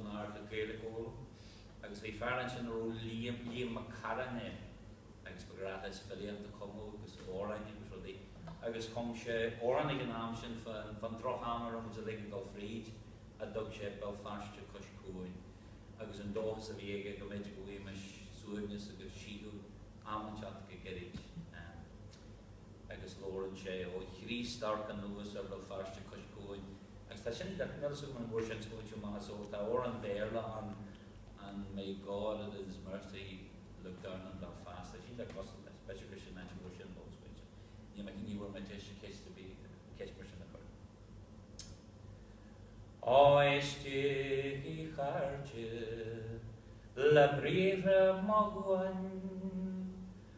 an Aird ag Gaeilic a fhoghlaim agus bhí fear ansin a raibh Liam, Liam Mac Carráin air agus ba ghnách leis filíocht a chumadh agus amhráin agus rudaí agus chum sé amhrán ag an am sin fán, fán drocham a raibh muid uilig ag dul fríd a dtug sé Béal Feirste Cois Cuain agus an dóchas a bhí aige go mb'fhéidir go bhfaighimis suaimhneas agus síth am inteacht go gairid. agus labhrann sé ó a Chríost amharc anuas ar Bhéal Feirste cois cuain, agus tá sin níl a fhios agam an bhfuair sé an smaointiú, mar is eol, tá amhrán Béarla ann, An May God in his mercy look down on Belfast, tá sin le clos agam, is b'fhéidir gur sin an áit a bhfuair sé an bunsmaointiú, níl mé, ní bhfuair mé deis an cheist a bhí, ceist mar sin a chur. Ó éistigí a chairde le briathra mo dhuain.